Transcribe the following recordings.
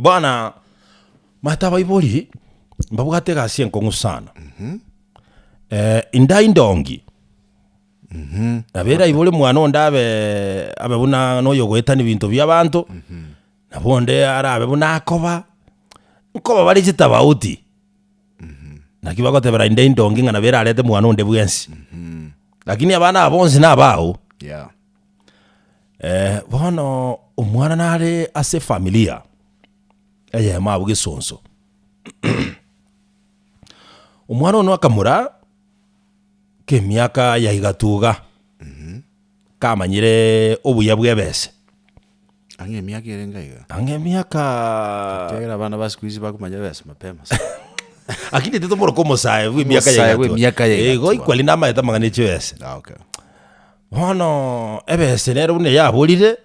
Bono mata abaibori mbabwate egasi enkong'u sana Eh, indai ndongi nabera aibore mwana onde abe abe buna noyo ogoetani ebinto biabanto nabo onde arabe buna akoba nkoba bare chitafauti Naki bagotebera inde indongi ng'a nabo erarete mwana onde bwensi. Lakini abana aba bonsi nabao. Yeah. Eh, bono omwana nare ase familia eyemo abwo gesonso omwana ono akamura kemiaka ya igatuga Kamanyire obuya bw'ebese. Ang'e emiaka erenge aiga. Ang'e emiaka. Ekiagera abana ba siku hizi bakumanya ebese mapema sana. Lakini ete tomoroka omosae bwe emiaka Omosae yaiga bwe tua. emiaka yaiga Igo tua. ikwari namaete amang'ana echi ebese. Ah, okay. Bono ebese nero buna yaborire,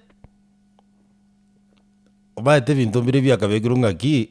omaete ebinto mbire biakabekirwe ng'aki.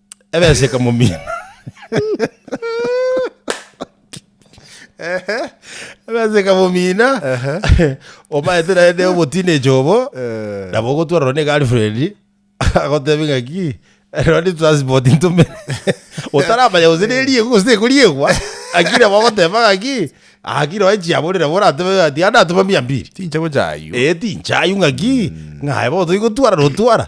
Ebesa ekamomina. Ebesa ekamomina. Omaete naende oboteenage obo. Eh. Nabo ogotwarwa ne girlfriend. Agotebe ng'aki. Rero ni transport ntume. Otaramanya gose neriegwa gose tekoriegwa. Lakini nabo ogoteba ng'aki. Akire oe chiabo nabo oratebe ng'a tiga natoma mia mbiri. Tincha gocha aywo. Eh tincha aywo ng'aki. Ng'aye bono toigotwarana otwara.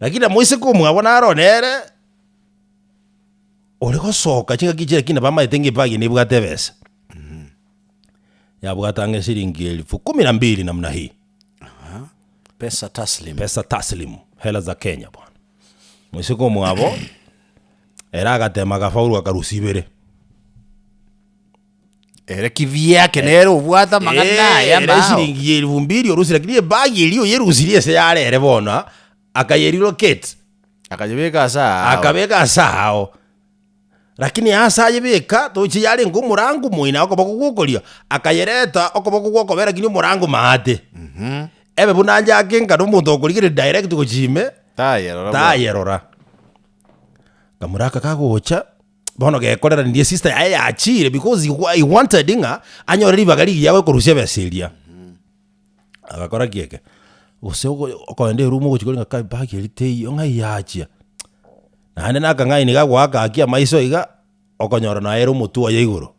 Rakini na moiseke omwabo naro nere ore gosoka chingaki echi, rakini nabo amaete ng'a epa eye nebwate ebesa. Yabwate ang'e siringi elfu kumi na mbili namna hii, Pesa taslim. pesa taslim, hela za Kenya bono. Moiseke omwabo ere agatema agafaulu akarusia ibere. Ere kibi yake nere obwate amang'ana Eh, aye ere amao. eshiringi ya elfu mbili orusi lakini ebagi eria oyerusirie ase yare ere bono akayerelocate Akanyebeka ase ao. akabeka ase ao lakini ase ayebeka toche yarenge omorango moino okoboko gwokorio akayereta okoboko gwokobe lakini omorango maate Mhm. ebe buna anje ake ngane omonto okorigereria direct gochia ime Tayerora bwa- tayerora kamuraka kagocha bono gekoreranirie sister yaye yachiire because he wa- he wanted ng'a anyore ribaga rigiya gokorusia ebesa eria agakora ki eke gose ogo- okogenda erumu ogochia korenge kai bag eria teiyo ng'ai yachia naende nakang'aini gagoaka gaki amaiso iga okonyora naye ere omotwe oye igoro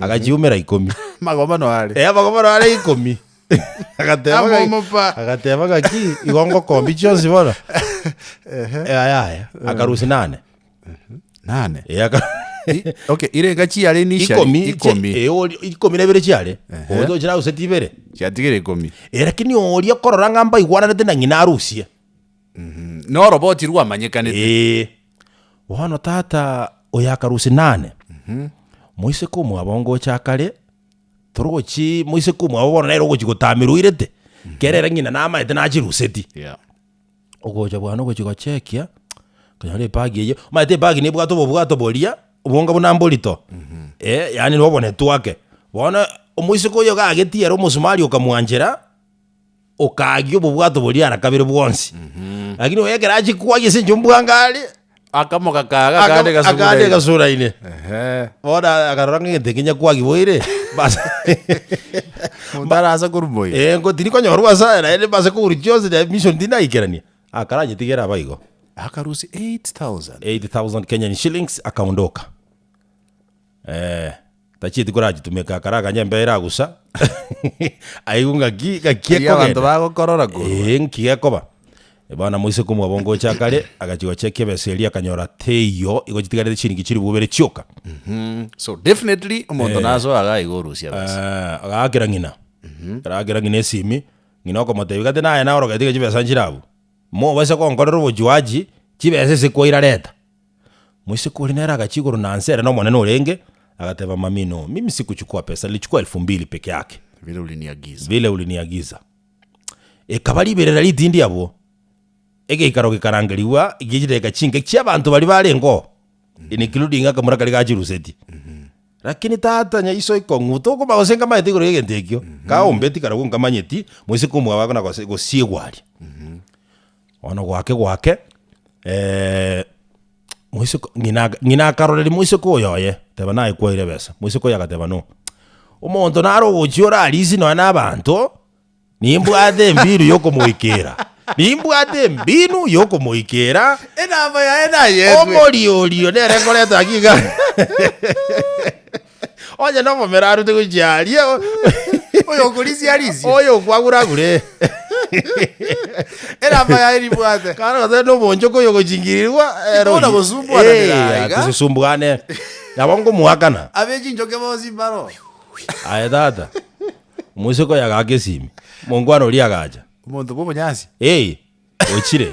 agachiumera ikomi. Magobano are. Eh, amagobano are ikomi. Agateba Amo ng'a- omopa. agateba ng'aki igo ngokombi chionsi bono. Ehe. Eh, aya aya akarusia nane. Nane. Eh, aka- I- Okay, ire engachi yare initial. ikomi che- Ikomi. eh, ori- ikomi na ibere chiare Ehe. ogocha ochira auseti ibere Chiatigere ikomi. Eh, lakini oria korora ng'a mbaigwananete na ng'ina arusie Noroba otirwa amanyekanete. Eh, Bono tata oyo akarusia nane, moiseke omwabo ngocha akare, tore ogochii, moiseke omwabo bono nere ogochi gotamerwa oirete, kere ere ng'ina namaete nachiruseti. Yeah. Ogocha bwane ogochi gochekia, okonyora ebagi eye, omanyete ebagi nebwate obobwato boria, obonga buna mborito, eh yaani nobo netwake. Bono omoiseke oyo iga agetie ere omosumari okamwanchera. okaagia obobwato boria ara kabere bwonsi lakini oye ekero achia kwagia ase enchera ombwango are Akamoka kaga akande akande gasugure. gasuraine Ehe. bono akarora ng'a egento ekinya kwagia boire bas Monto arase korumwa oyo. Eh, ngo tirikonyorwa ase aya naende base kogurwa chionsi naende mission tindaikerania akaranyetigere aba igo Akarusia 8,000. 8000 kenyan shillings akaondoka Ee, tachieti korachitumeka akare akanya embeo eragusa aigwe ng'aki ng'aki Erio abanto ekogenda. bagokorora korwa. Ee, ng'aki gekoba. Bono moiseke omwabo ngocha akare, agachia gocheka ebesa eria akanyora teiyo, igo chitigarete chiringi chilifu bobere chioka. Mhm. So definitely omonto nasoa iga aiga orusia ebesa. Ee, agaakera ng'ina. Araakera ng'ina esimi, ng'ina okomotebia gati naye naye orogete iga chibesa nchire abwo. Mobase gonkorera obojuaji, chibesa ase kwaira reta. Moiseke oria nere agachia igoro na nse ere nomonene orenge, agateba mamino, Mimi sikuchukua pesa, nilichukua elfu mbili peke yake, vile uliniagiza. vile uliniagiza. Ekaba riberera ritindi abwo, egeikaro gekarangerigwa gichideka chinke chia abanto baria barengeo, including akamura karia ga Chiruseti. Lakini tata nyaiso ikong'u, tokoba gose nkamanyete igoro y'egento ekio, kaombe tikara gwo nkamanyeti, moiseke omwabo agakona gose gosiegwa aria. Bono goake goake, moiseke ng'ina aka- ng'ina akaroreria moiseke oyo oye, teba naye kwaire ebesa, moiseke oye agateba no, omonto nare ogochia ore arisi nonya na abanto, nimbwate embiru yokomoikeera, nimbwate embinu yokomoikeera, Enamba yaye nayetwe. omori orio nere nkoreta ng'a iga. Onye nomomera arute gochia aria, Oyo okorisia arisia. oyo okwagura agure. Erama yaye nibwate. Kare gose noboonchoka oyo ogochingirirwa ere Tikona oyio. gosumbuananera Eh, aiga. tisisumbuane. Nabo ngomoakana. Abe chinchoke bonsi mbaro. Aye tata. Omosiko oyo agaaka esimi. Omongwana oria agacha. Omonto bw'obonyansi. Hey, ochire.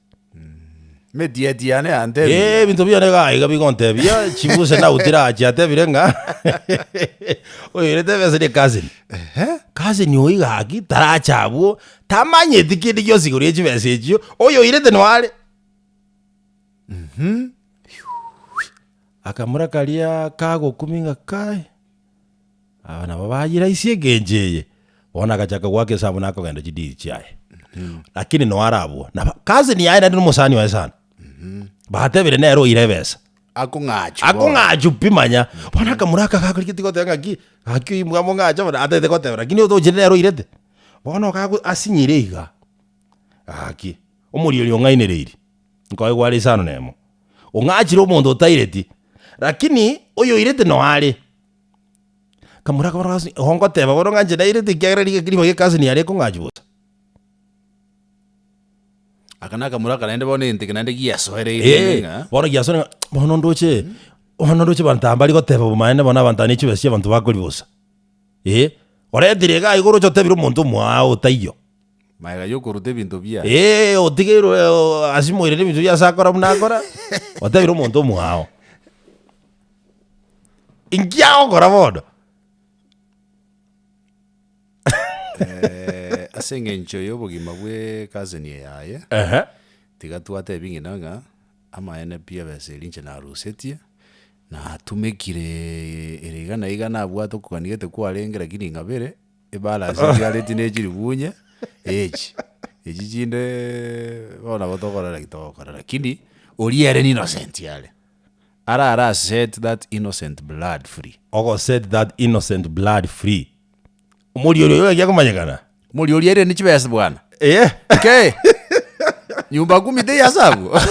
Emetiati yane yantebia. Eh, ebinto biane iga iga bigontebia chibuse nautire ache atebire ng'a oyorete ebese ne cousin Ehe. cousin oyo iga aki tarache abwo tamanyeti kende gionsi igoro ya chibesa echio oyoirete no are akamura karia kagokumia ng'a kai. Aba nabo bayiraisia egencho eye, bono agachaka goaka esaabuni akogenda chidiiri chiaye. Lakini noe are abwo, na cousin yaye naende nomosani oye sana, batebire nere oire ebesa, Akong'achu bono. akong'achu pi manya. Bono akamura aka gakorigetie goteba ng'aki, gaki oimwa mong'ache bono, atagete goteba, lakini otochire nere oirete. Bono gago asinyire iga, gaki, omorio oria ong'ainereiri, nkoigwa are isano nemo, ong'achire omonto otaireti, lakini oyoirete noe are. Kamura akabora, Gasi igo ngoteba bono ng'a inche nairete ekiagera rigaki rimagu egekasi niare ekong'achwa bosa? Aka nakamura aka naende bono egento eke naende giasoereirwe ime Ee, ng'a bono giasore ng'a bono ndoche bono ndoche abanto aba mbari goteba obomaene bono abanto aba ne chibesa chi'abanto bakori bosa. Ee, oretire iga iga oroche otebire omonto omoao otaiyo. Magega y'okoruta ebinto bia. Ee, otigeirwe eh, asimoirere ebinto bia ase akora buna akora, otebire omonto omwao. Inki agokora bono? Eh, ase eng'encho y'obogima bwe cousin yaye, Ehe. tiga twatebi ng'ina ng'a amaene pi ebesa eria inche narusetie, natumekire ere iga na iga nabwate okogania gete kwarenge lakini ing'abere. Ebara ase chiareti ne chiribuunye echi, echi chinde bono nabo tokorora ki togokora lakini oria ere innocent are, ara ara set that innocent blood free. Ogo set that innocent blood free, omoria oria oyo gaki akomanyekana? Omoria oria airane chibesa bwana. Eye. Kei! Nyumba kumi teiasabwo?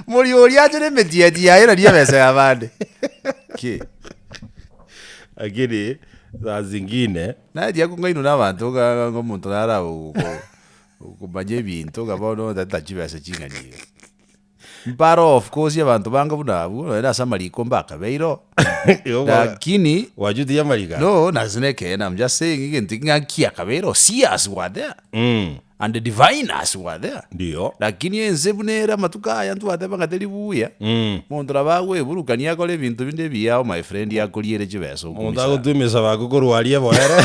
Omoria oria ache na emetiati yaye nari ebesa ya abande. Kei! Lakini saa zingine. Nachia ko ng'ainwa nabanto nga omonto nara komanya ebinto nga bono ntaretera chibesa ching'ani iga. Mpare of course abanto bange buna abwo nonya ase amariko mbakabeire oo lakini Wachutia amariko aya? no nase nekeene am just saying egento ekio ng'aki akabeire oo serious gwatea. And the diviners were there. Ndiyo. Lakini ense buna ere amatuko aya ntwateba ng'a teri buya, Mm. monto nabo agoeburukania akore ebinto binde ebiya ao my friend akorie ere chibesa Omonto okumisara. agotua emisaba ake korwa aria boere.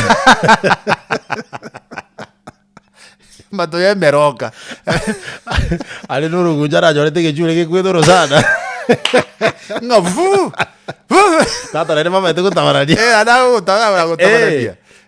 Mato ya emeroka. Are n'oroguncha arachorete egechura egekwete orosana. Ng'a vu! Vu! Tata naende bamaete gotabarania. Eh, ana gotara Eh, gotabarania.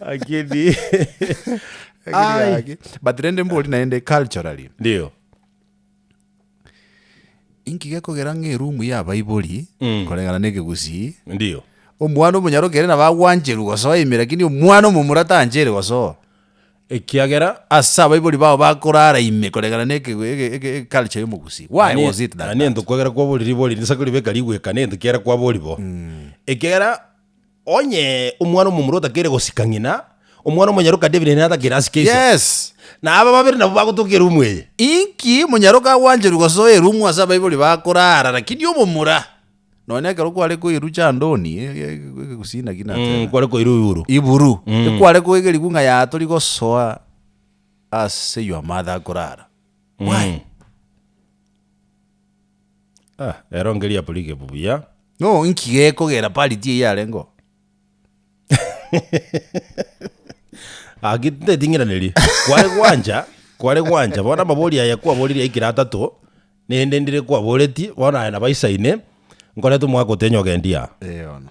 Lakini Ai. Age. but rende mbori naende culturally ndio inki gekogera ng'a erumu ya abaibori Mm. koreng'ana na ekegusii ndio omwana omonyaro kere nabo agwancherwa gosoa ime lakini omwana omomura tanchere gosoa ekiagera ase abaibori bao bakorara ime koreng'ana na eke- eke- eke- eke culture ya omogusii why was it that, ani that? ento kwagera kwaboriri bori risaku ribeka rigweka nento kiagera kwabori bo ekiagera Onye omwana omomura otakeire gosika ng'ina, omwana omonyaroka David nigo atakeire asike ise. Yes. Na aba babere nabwo bagotoka erumu eye. Inki omonyaroka agwancherwe gosoa erumu ase abaibori bakoraara, rakini omomura, nonya ekero kware koirwa chandoni, e- e- e- egegusina ki nateba? Mm, kware koirwa iguru. iburu Mm. ekware koegerigwa ng'a ya tori gosoa ase your mother akorara why Ah, ero ngeriabu rigebu buya. No, inki gekogera parity eyio arengeo? Ah, ki- ndeting'iranerie. Kware gwancha, kware gwancha. Bono amabori aya kwaboririe aikire atato, nende ndire kwaboretie, bono aya nabo aisaine, nkorete omwaka otenyogendi aa. Eono.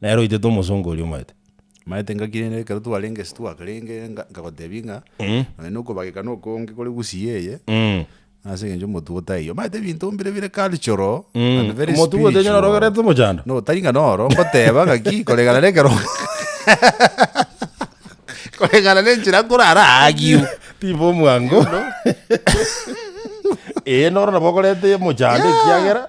Nere oitete omosongo oria omaete. Maete ngaki rende ekero twarenge ase twakarenge nga- nkagotebia ng'a Mm. nonye na okobageka na okonge kore gusii eye, Mm. ase eng'encho omotuo otaiyo. Omanyete ebinto mbire bire cultural Mm. and very Omotuo ogotenena spiritual. orogerete omochando. No, tari ng'a noro, ngoteba ng'aki koreng'ana na ekero koreng'ana na enchera nkorara aagio. Tiba omwango. Ee, noro nabo okorete omochando ekiagera.